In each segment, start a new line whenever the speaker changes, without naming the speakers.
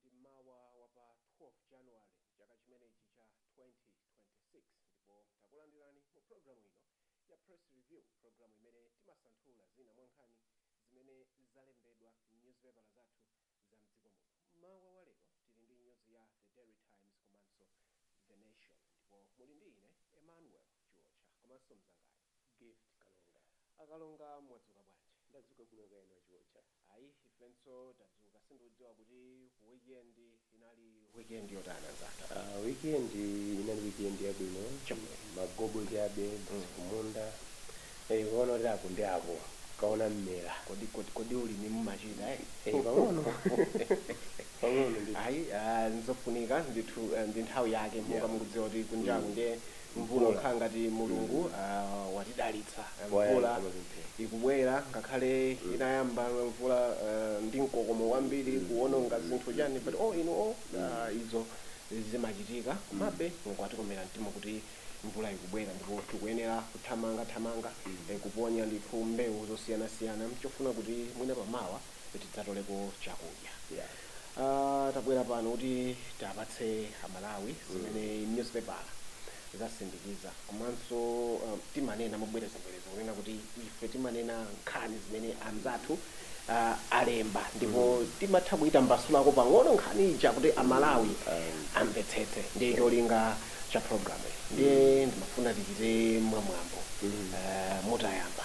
ndi mmawa wa pa 12 january chaka chimenechi cha 2026 ndipo takulandirani mu programu ino ya press review programu imene timasanthula zina mwa nkhani zimene zalembedwa m'nyuzipepala zathu za mdziko muno. Mmawa wa lero tili ndi nyuzi ya The Daily Times komanso The Nation ndipo muli ndi ine Emmanuel Chiotcha komanso mzangayo Gift
Kalonga. A
Kalonga mwadzuka bwanji? Ndadzuka bwino kaya inu
a Chiotcha? Ayi ifenso
tadzuka, sindikudziwa kuti weekend inali Weekend yotani anzathu? Ah,
weekend inali weekend yabwino magobo chabe basi kumunda eh ukaona kuti apo ndi apo kuona mmera Kodi kodi kodi
ulimi mumachita eh? eh
pang'ono pang'ono ndithu Ayi, ah,
nzofunika ndithu eh, ndi nthawi yake monga Yeah. mukudziwa kuti kunjaku Mm. ndiye mvula kukhala ngati mulungu watidalitsa mvula ikubwera ngakhale inayamba mvula ndi mkokomo wambiri kuwononga zinthu chani but oh inu oh izo zimachitika komabe mulungu watikomera mtima kuti mvula ikubwera ndipo tikuyenera kuthamanga thamanga kuponya ndithu mbewu zosiyanasiyana chofuna kuti mwina pamawa tidzatoleko chakudya Aaa tabwera pano kuti tiwapatse a Malawi zimene nyuzipepala zasindikiza komanso timanena mobwerezabwereza kunena kuti ife timanena nkhani zimene anzathu aah alemba ndipo timatha kuitambasulako pang'ono nkhani ija kuti a Malawi amvetsetse ndiye cholinga cha program iyi. Ndiye ndimafuna tichite mwamwambo mutayamba.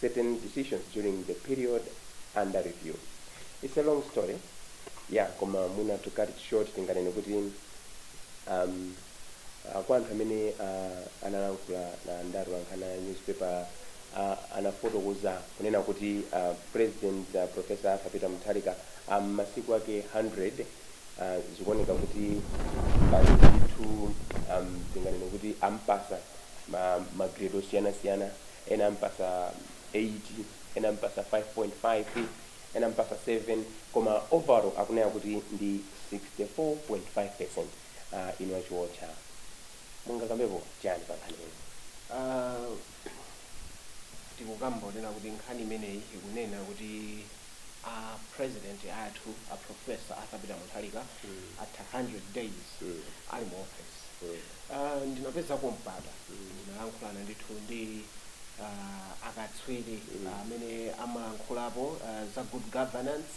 certain decisions during the period under review. It's a long story, yeah, koma mwina to cut it short tinganene kuti um, uh, kwa anthu amene uh, analankhula na ndarura wa nkhani ya newspaper uh, anafotokoza kunena kuti uh, president uh, professor arthur peter mutharika uh, masiku ake 100 uh, zikuoneka kuti pali ndithu um, tinganene kuti ampasa ma, ma grade osiyana-siyana ena amupasa 8 ena amupasa 5.5 ena amupasa 7 koma overall akuoneka kuti ndi 64.5% uh, inu a Chiotcha mungakambepo chani pa nkhani imeneyi
Ah, tikukamba kunena kuti nkhani imeneyi ikunena kuti a president athu a professor arthur peter mutharika atha 100 days ali mu office Aaa ndinapezako mpata ndinalankhulana ndithu ndi aaa akatswiri amene amalankhulapo za good governance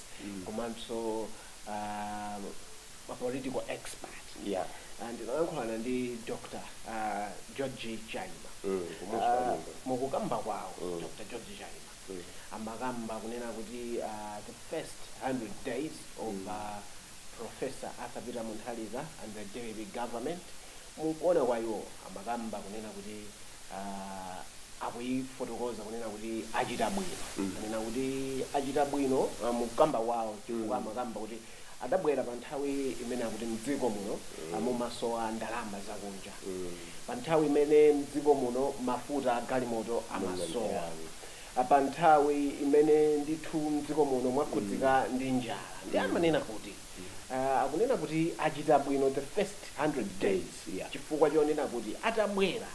komanso aaa ma political expert aaa ndinalankhulana ndi Dr George Chaima mukukamba kwawo Dr George Chaima amakamba kunena kuti aaa the first 100 days of aaa Professor Arthur Peter Mutharika and the dpp government mukuona kwa iwo amakamba kunena kuti aah akuifotokoza kunena kuti achita bwino anena kuti achita bwino mukukamba kwao chifukwa amakamba kuti adabwera pa nthawi imene akuti mdziko muno mumasowa ndalama zakunja pa nthawi imene mdziko muno mafuta a galimoto amasowa a Pa nthawi imene ndithu m'dziko muno mwakhudzika ndi njala ndiye amanena kuti ah, akunena kuti achita bwino the first 100 days chifukwa chonena kuti atabwera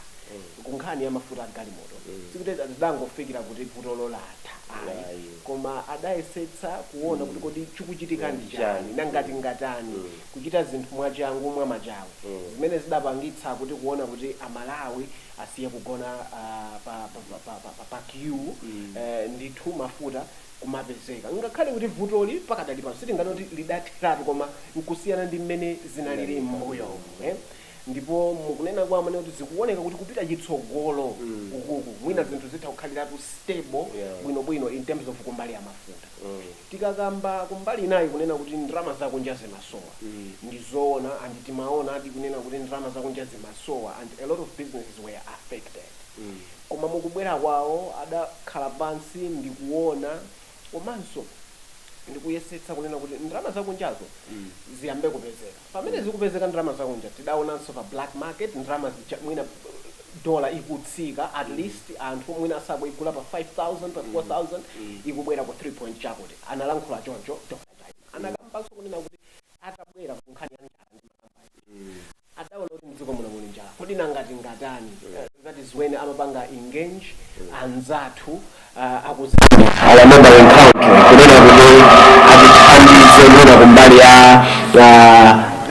ku nkhani ya mafuta a galimoto sikuti adangofikira kuti vutolo latha koma adayesetsa kuona kuti kodi chikuchitika ndi chani nanga tingatani kuchita zinthu mwachangu mwamachawi zimene zidapangitsa kuti kuona kuti amalawi asiye kugona pa queue ndithu mafuta kumapezeka. Ngakhale kuti vutoli pakadali pano sitinganene kuti lidatheratu koma n'kusiyana ndi mmene zinalili m'mbuyomu ndipo mukunena kwawo amanena kuti zikuoneka kuti kupita chitsogolo ukuku mwina zinthu zitha kukhaliratu stable bwinobwino in terms of kumbali ya mafuta. Tikakamba kumbali inayi kunena kuti ndalama zakunja zimasowa ndi zoona and timaonadi kunena kuti ndalama zakunja zimasowa and a lot of businesses were affected koma mukubwera kwawo adakhala pansi ndikuona komanso ndikuyesetsa kunena kuti ndalama zakunjazo ziyambe kupezeka. Pamene zikupezeka ndalama zakunja tidaonanso pa black market ndalama mwina dollar ikutsika atleast anthu mwina sakuigula pa 5000 pa 4000 ikubwera ku 3 point chakuti. Analankhula choncho. Anakambanso kunena kuti atabwera ku nkhani ya njala ndi makampani adaona kuti mdziko muno muli njala kodi nanga tingatani? That is when amapanga engage anzathu aku Zambia our neighbouring country kunena kuti atithandize mwina kumbali ya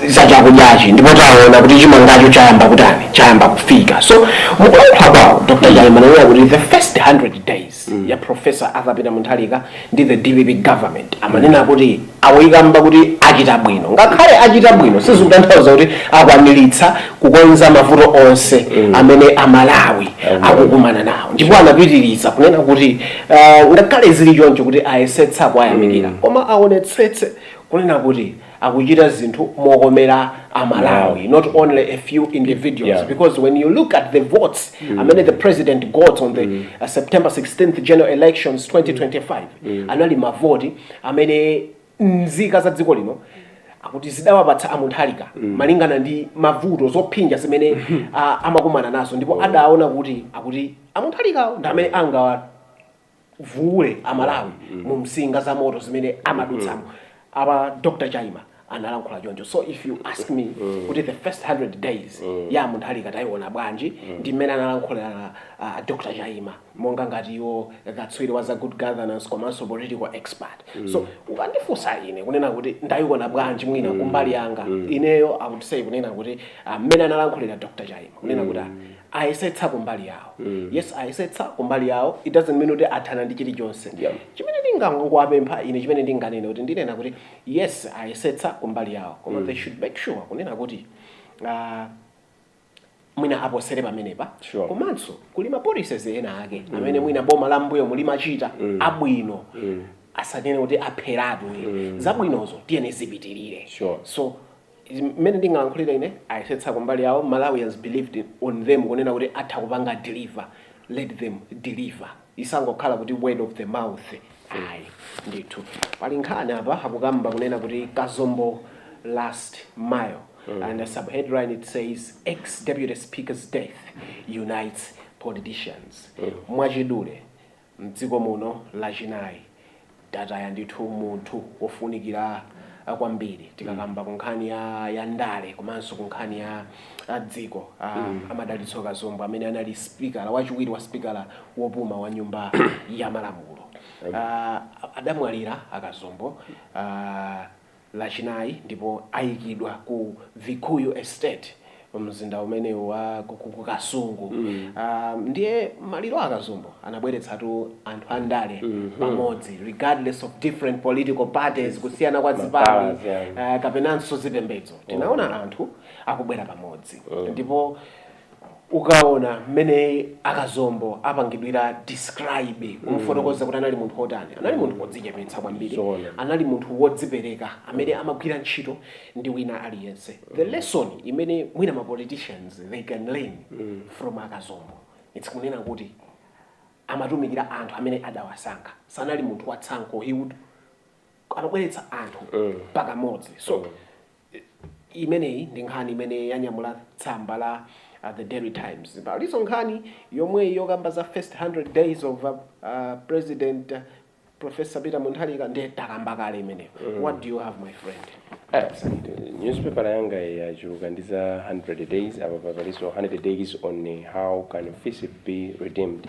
za chakudyachi ndipo taona kuti chimangacho chayamba kutani chayamba kufika so mukulankhula kwawo dr chaima ananena kuti the first 100 days ya professor arthur peter mutharika ndi the dpp government amanena kuti Akuyikamba kuti achita bwino. Ngakhale achita bwino sizikutanthauza kuti akwaniritsa kukonza mavuto onse amene Amalawi akukumana nawo. Ndipo anapitiriza kunena kuti ngakhale zili choncho kuti ayesetsa kuwayamikira koma awonetsetse kunena kuti akuchita zinthu mokomera Amalawi not only a few individuals because when you look at the votes amene the president got on the September 16th general elections 2025 anali mavoti amene nzika za dziko lino akuti zidawapatsa a Mutharika malingana ndi mavuto zophinja zimene ah, amakumana nazo ndipo adaona kuti akuti a Mutharikawo ndi amene angawavuule amalawi mu msinga za moto zimene amadutsamo apa Dr Chaima analankhula choncho so if you ask me mm. kuti the first 100 days mm. ya Mutharika tayiona bwanji mm. ndi mmene analankhulira uh, Dr Chaima monga ngati iwo katswiri wa za good governance komanso political expert mm. so ukandifunsa ine kunena kuti ndayiona bwanji mwina mm. kumbali yanga mm. ineyo I would say kunena kuti ah, mmene uh, analankhulira Dr Chaima kunena mm. kuti ah, ayesetsa kumbali yawo mm. yes ayesetsa kumbali yawo it doesn't mean kuti athana ndi chilichonse yeah. chimene ndingangowapempha ine chimene ndinganene kuti ndinena kuti yes ayesetsa kumbali yawo koma they should make sure kunena kuti ah, mwina aposere pamenepa Sure. komanso kuli mapolicies ena ake amene mwina boma la m'mbuyomu limachita abwino asanene kuti apheratu mm. zabwinozo tiyeni zipitirire Sure. so Mmene ndingalankhulire ine ayesetsa kumbali yawo, Malawians believed on them kunena kuti atha kupanga deliver, let them deliver isangokhala kuti word of the mouth ayi ndithu. Pali nkhani apa akukamba kunena kuti Kazombo last mile and the subheadline it says Ex Deputy Speaker's death unites politicians. Mwachidule, M'dziko muno lachinayi tataya ndithu munthu wofunikira kwambiri tikakamba ku nkhani ya ya ndale komanso ku nkhani ya a dziko a a Madalitso Kazombo amene anali sipikala wachiwiri wa sipikala wopuma wa nyumba ya malamulo a adamwalira a Kazombo a Lachinayi ndipo ayikidwa ku Vikuyu Estate mumzinda umene wa ku Kasungu. Ndiye maliro a a Kazombo anabweretsatu anthu andale pamodzi regardless of different political parties, kusiyana kwa zipani kapenanso zipembedzo. Tinaona anthu akubwera pamodzi ndipo. ukaona mmene a Kazombo apangidwira describe kumfotokoza kuti anali munthu wotani anali munthu wodzichepetsa kwambiri Zoona. anali munthu wodzipereka amene amagwira ntchito ndi wina aliyense the lesson imene mwina ma politicians they can learn from a Kazombo it's kunena kuti amatumikira anthu amene adawasankha sanali munthu watsankho he would amabweretsa anthu pakamodzi so Imeneyi ndi nkhani imene yanyamula tsamba la The Daily Times. Palinso nkhani yomweyi yokamba za first 100 days of President Professor Peter Mutharika ndiye takamba kale imeneyo. What do you have my friend? Absolutely.
Newspaper yanga yachuluka ndi za 100 days apa palinso 100 days on how can Fisip be redeemed.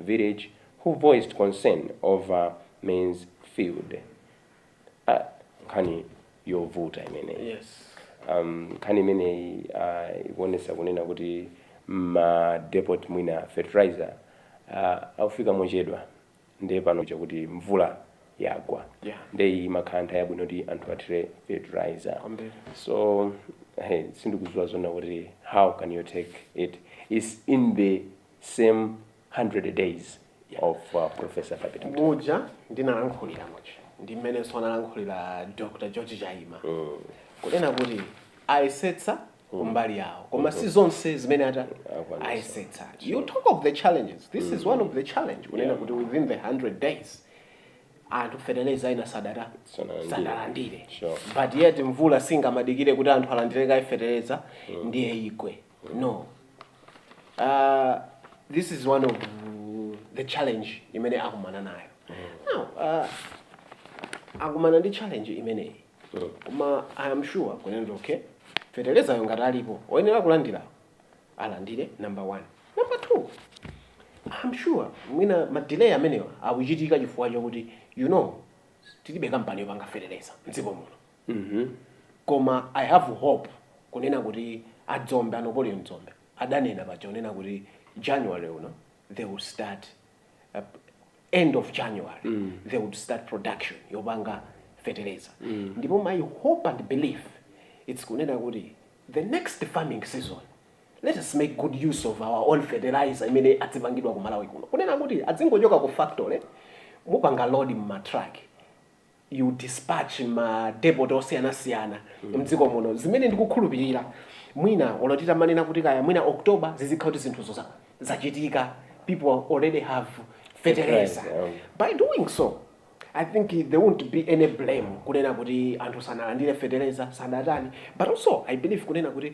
village who voiced concern over maize field ah nkhani yovuta imeneyi yes um,
nkhani
imeneyi uh, ikuonesa kunena kuti ma depot mwina fertilizer uh, akufika mochedwa ndiye pano chakuti mvula yagwa Yeah. ndiye
iyi imakhala
nthawi yabwino kuti anthu athire fertilizer Kwambiri. so hey, sindikuziwa zonena kuti how can you take it is in the same 100 days of uh, professor Peter Mutharika.
muja ndinalankhulira muja ndi mmenenso analankhulira dr george chaima kunena kuti ayesetsa kumbali yawo koma si zonse zimene ata Akwanisa. ayesetsa you talk of the challenges this is one of the challenge kunena kuti within the 100 days anthu fertilizer ina sadata Sanalandire. sadalandire Sure. but
yet mvula
singamadikire kuti anthu alandire kaye fertilizer ndiye igwe No. Uh, this is one of the challenge imene akumana nayo. Now, uh, akumana ndi challenge imeneyi. Koma I am sure kunena okay. Fertilizeryo ngati alipo. Oyenera kulandira. Alandire number one. Number two. I'm sure mwina ma delay amenewa akuchitika chifukwa chakuti you know tilibe kampani yopanga fertilizer mdziko muno. mmh koma I have hope kunena kuti a Dzombe a Napoleon Dzombe adanena paja kunena kuti January uno they would start end of January they would start production yopanga fetereza ndipo my hope and belief it's kunena kuti the next farming season let us make good use of our own fertilizer imene adzipangidwa ku Malawi kuno kunena kuti adzingochoka ku factory mupanga load mma truck you dispatch ma depot osiyanasiyana mdziko muno zimene ndikukhulupirira mwina olo titamanena kuti kaya mwina October zizikhala kuti zinthuzo za- zachitika people already have fertilizer Fertilizer, um. by doing so i think there won't be any blame kunena kuti anthu sanalandire fertilizer sadatani but also i believe kunena kuti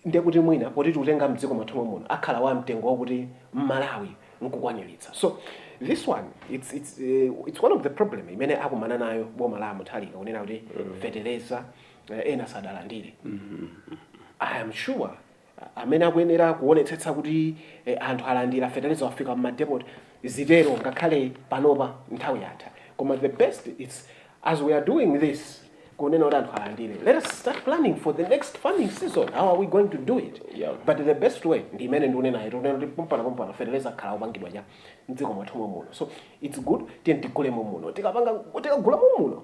ndiye kuti mwina poti tikutenga mdziko mwathu momuno akhala wa mtengo wakuti mmalawi nkukwaniritsa so this one it's, it's, uh, it's one of the problem imene akumana nayo boma la Mutharika kunena kuti feteleza uh, ena sadalandire i am sure uh, amene akuyenera kuonetsetsa kuti eh, anthu alandira feteleza wafika mmadepot zitero ngakhale panopa nthawi yatha koma the best its As we are doing this kunena kuti anthu alandire let us start planning for the next farming season how are we going to do it yeah. but the best
way
ndi imene ndikunenayo yoti kuti pompano pompano feteleza akhala opangidwa cha mdziko mwathu momuno so it's good tiye tigule momuno tikapanga tikagula momuno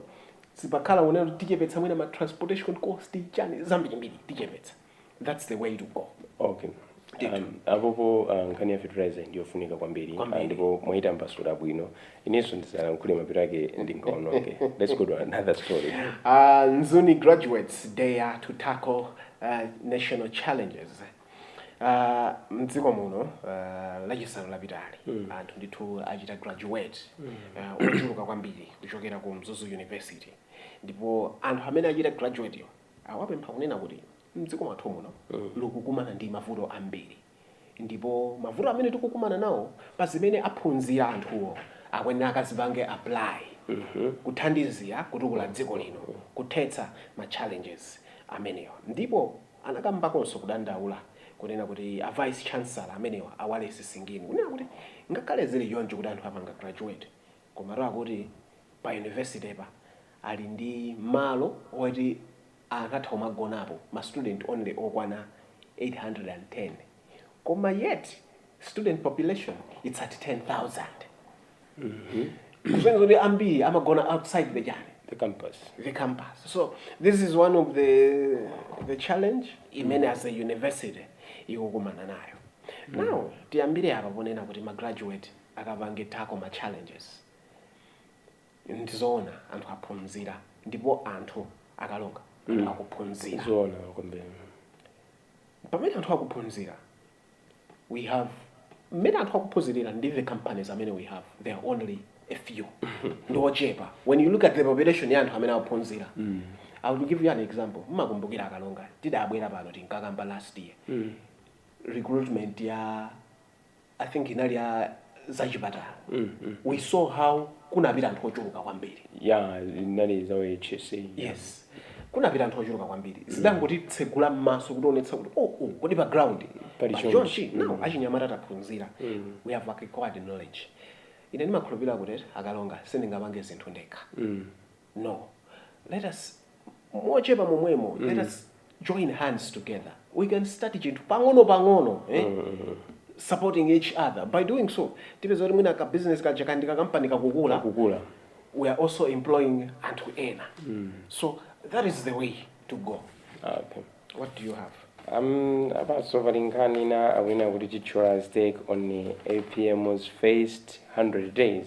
sipakhala kunena kuti tichepetsa mwina ma transportation cost chani zambirimbiri tichepetsa thats the way to go okay Ndithu.
Um, apopo uh, nkhani ya fertilizer ndiyofunika kwambiri Kwambiri. Ah, ndipo mwayitambasula bwino inenso ndisalankhule mapeto ake ndingaononge let's go to another story Uh, Mzuni
graduates dared to tackle uh, national challenges. Uh, mdziko muno uh, lachisanu lapitali anthu ndithu achita graduate uh, ochuluka kwambiri kuchokera ku mzuzu university ndipo anthu amene achita graduateyo Awapempha kunena kuti dziko lathu muno likukumana ndi mavuto ambiri ndipo mavuto amene tikukumana nawo pa zimene aphunzira anthuwo akuyenera akazipange apply kuthandizira kutukula dziko lino kuthetsa ma challenges amenewa ndipo anakambakonso kudandaula kunena kuti a vice chancellor amenewa a Wales Singini kunena kuti ngakhale zili choncho kuti anthu apanga graduate komatu akuti pa university pa ali ndi malo oti angathe kumagonapo ma student only okwana 810 koma yet student population its at 10000 kusonyeza kuti ambiri amagona outside the chani
the campus the campus.
So this is one of the the challenge imene as a university ikukumana nayo. Now tiyambire apa ponena kuti ma graduate akapange tackle ma challenges. ndi zoona anthu aphunzira ndipo anthu akalonga anthu akuphunzira zoona kwambiri pamene anthu akuphunzira we have mmene anthu akuphunzirira ndi the companies amene we have they are only a few ndi ochepa when you look at the population ya anthu amene akuphunzira i will give you an example mmakumbukira akalonga tidabwera pano tinkakamba last year recruitment ya i think inali ya zachipatala we saw how kunapita anthu ochuluka kwambiri ya zinali
za hsa yes
kunapita anthu ochuluka kwambiri zidangotitsegula m'maso kutionetsa kuti oho kodi pa ground Pali pa chonchi. chonchi no achinyamata taphunzira we have acquired knowledge ine ndimakhulupirira kuti akalonga sindingapange zinthu ndekha no let us mochepa momwemo mm. let us join hands together we can start chinthu pang'ono pang'ono eh? mm -hmm. supporting each other by doing so tipeza kuti mwina ka business kaja kakhala kampani kakukula kukula we are also employing anthu ena mm. so that is the way to go
okay. what do you
have um, abaso
valinkhani na awina kuti chitchula stake on apm's first 100 days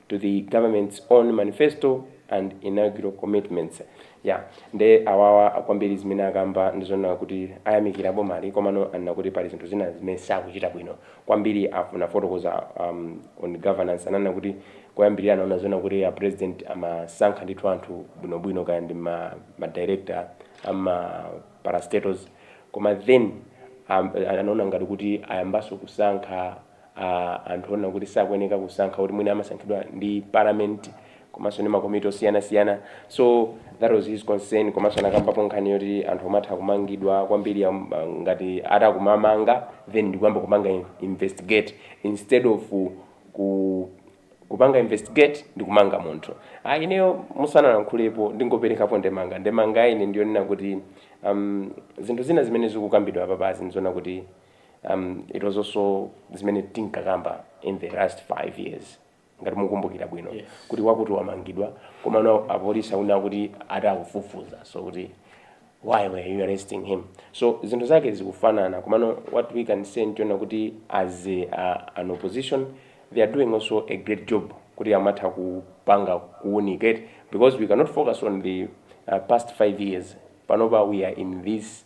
to the government's own manifesto and inaugural commitments yeah nde awawa kwambiri zimene akamba ndi zoona kuti ayamikira boma komano anena kuti pali zinthu zina zimene sakuchita bwino kwambiri anafotokoza um, on governance ananena kuti koyambirira anaona zoona kuti a president amasankha ndithu anthu bwinobwino kaya ndi ma, ma director ama parastatals koma then um, anaona ngati kuti ayambaso kusankha a anthu onena kuti sakuyeneka kusankha kuti mwina amasankhidwa ndi parliament komanso ndi makomiti osiyanasiyana so that was his concern komanso anakambapo nkhani yoti anthu amatha kumangidwa kwambiri am- ah, ngati atakumamanga then ndikuyamba kupanga in- investigate instead of ku kupanga investigate ndi kumanga munthu ah, ineyo musanalankhulepo ndingoperekapo ndemanga ndemanga ine ndiyonena kuti um, zinthu zina zimene zikukambidwa apapazi ndi zoona kuti um, it was also zimene tinkakamba in the last five years ngati mukumbukira bwino yes. kuti wakuti wamangidwa komano apolisi anena kuti ati akufufuza so kuti why were you arresting him so zinthu zake zikufanana komano what we can say ndi zoona kuti as a, uh, an opposition they are doing also a great job kuti amatha kupanga kuunikate because we cannot focus on the uh, past five years panopa we are in this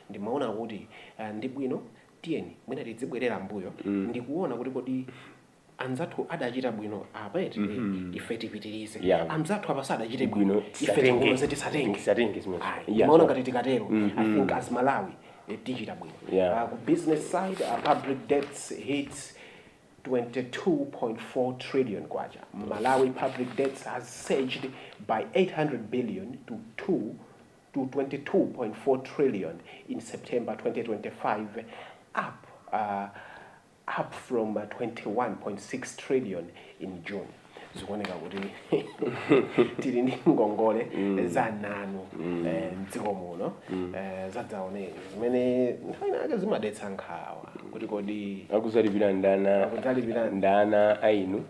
Ndimaona kuti ndi bwino tiyeni mwina tidzibwerera mmbuyo ndi kuona kuti kodi anzathu adachita bwino apa eti, mm -hmm. ife tipitirize yeah. anzathu apa sadachite bwino ife tikonze tisatenge tisatenge ndimaona ngati tikatero mm -hmm. i think as malawi eh, tichita bwino yeah. uh, ku business side uh, public debts hits 22.4 trillion kwacha malawi public debts has surged by 800 billion to 2 to 22.4 trillion in September 2025 up up from 21.6 trillion in June zikuoneka kuti tili ndi ngongole zamnanu eh, mdziko muno eh, zadzaoneni zimene nthawi inayake zimadetsa nkhawa kuti kodi akudzalipira ndi
ana Akudzalipira. ndi ana a inu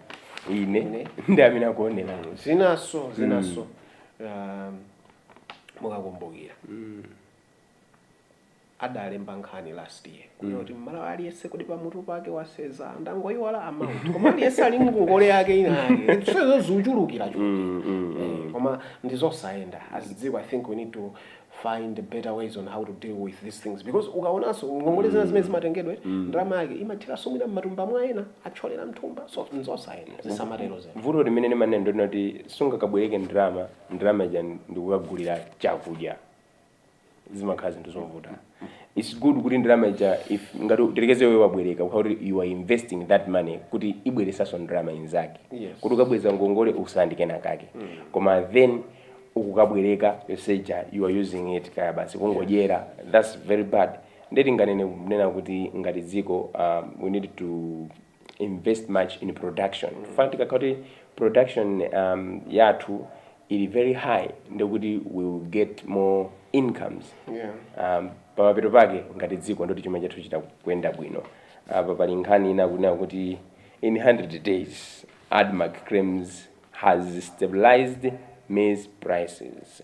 ine Ine. ndi amene akuonera zinaso
zinaso um, mukakumbukira adalemba nkhani last year kunena kuti mmalawi aliyense kuti pamutu pake wasenza ndangoyiwala amount koma aliyense ali ndi ngongole yake inayake so ikuchulukirachulukira Mm, mm, mm. Eh, koma ndizosayenda as dziko i think we need to find better ways on how to deal with these things because ukaonanso ngongole zina zimene zimatengedwa ndalama yake imathiranso mwina mmatumba mwa ena athyolere mthumba so nzosayenda zisamatero zena vuto limene tili
nalo ndi loti sungakabwereke ndalama ndalama ija ndikukagulira chakudya zimakhala zinthu zovuta its good kuti ndalama ija if ngati tilekeze iwe wabwereka kukhala kuti you are investing that money kuti ibweretsenso ndalama inzake Yes. kuti ukabweza ngongole utsalenso ndi kenakake koma then ukukabwereka yoseja you are using it kaya basi kungodyera that's very bad nde tinganene kunena kuti ngati dziko um, we need to invest much in production chifukwa tikakhala kuti production um, yathu ili very high nde kuti we will get more incomes Yeah. um, pamapeto pake ngati dziko nde kuti chuma chathu chitha kuyenda bwino apa pali nkhani ina kunena kuti in 100 days admarc claims has stabilized maize prices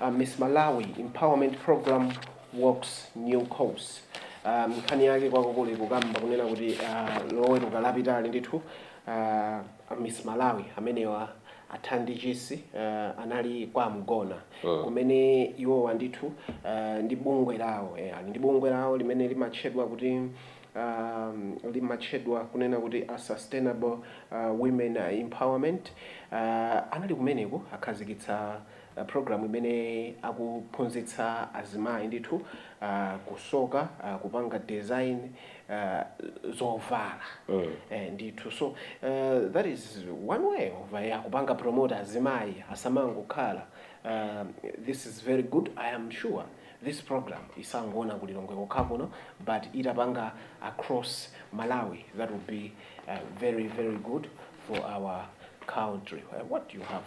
a Miss Malawi Empowerment Program walks new course. Um, nkhani yake kwakukulu ikukamba kunena kuti uh, loweruka lapitali ndithu uh, a Miss Malawi amenewa a Thandi Chisi uh, anali kwa mgona Mm. kumene iwowa ndithu uh, ndi bungwe lawo eh, ali ndi bungwe lawo limene limatchedwa kuti um, limatchedwa kunena kuti a sustainable uh, women empowerment uh, anali kumeneko akhazikitsa Program imene akuphunzitsa azimayi ndithu kusoka kupanga design zovala ndithu so that is one way of kupanga promote azimayi asamangokhala this is very good I am sure this program isangokhala ku Lilongwe kokha kuno but itapanga cross Malawi that will be very very good for our country what you have.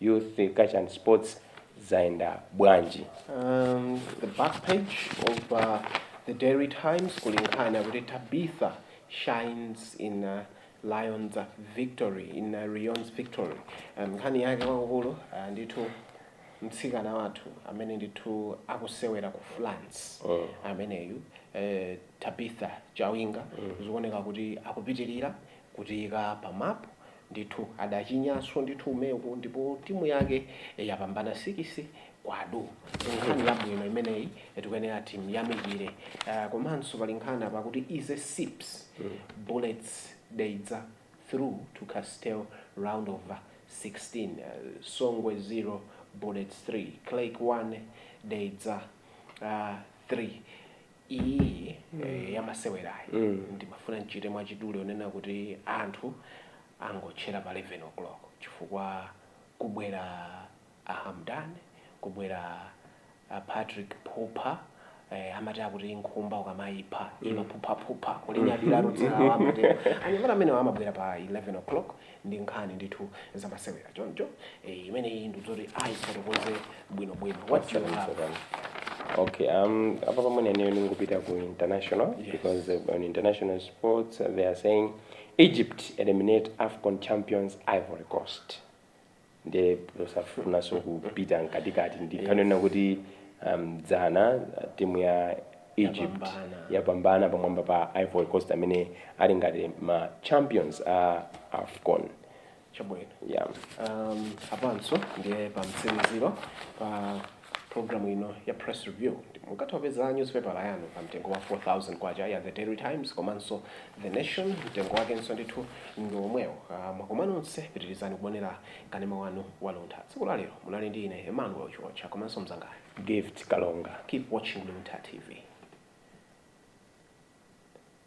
Youth Culture and Sports zayenda bwanji?
um, the back page of uh, the Daily Times kuli nkhani akuti Tabitha shines in uh, Lyon's uh, victory in uh, Lyon's victory um, nkhani yake kwakukulu uh, ndithu mtsikana wathu amene ndithu akusewera ku France Mm. ameneyu eh, Tabitha Chawinga zikuoneka kuti akupitirira kutiika pa map ndithu adachinyanso ndithu umeku ndipo timu yake yapambana sikisi kwa duu nkhani yabwino imeneyi tikuyenera timuyamikire uh, komanso pali nkhani apa kuti ize says bullets dedza through to castel round of 16 uh, songwe 0 bullets 3 creck 1 dedza uh, 3 iyi eh, ya masewerayi ndimafuna ndichite mwachidule yonena kuti anthu angotchera pa 11 o'clock chifukwa kubwera ahamdan kubwera a patrick phupha eh, amati akuti nkhumba ukamayipha imaphuphaphupha kulinyadira dzinalo amati anyamata amenewo amabwera pa 11 o'clock ndi nkhani ndithu zamasewera choncho eh, imeneyi ndikuti ayifotokoze bwinobwino what do you have Okay,
um, apa pamene ineyo ndingopita ku international Yes. because uh, on international sports uh, they are saying Egypt eliminate AFCON champions Ivory Coast. nde osafunanso kupita mkatikati ndi nkhani yonena kuti um, dzana timu ya egypt yapambana pamwamba pa ivory coast amene ali ngati ma champions a afcon
chabwino yeah. um,
apanso
ndiye pamtsiliziro pa Programu ino ya Press Review mukatha kupeza nyuzipepala yanu pa mtengo wa K4,000 ya The Daily Times komanso The Nation, mtengo wakenso ndithu ngomwewo. Ah, Mwakoma nonse, pitirizani kuonera kanema wanu wa Luntha. Tsiku la lero munali ndi ine Emmanuel
Chiotcha
komanso mnzangayo Gift Kalonga. Keep
watching
Luntha TV.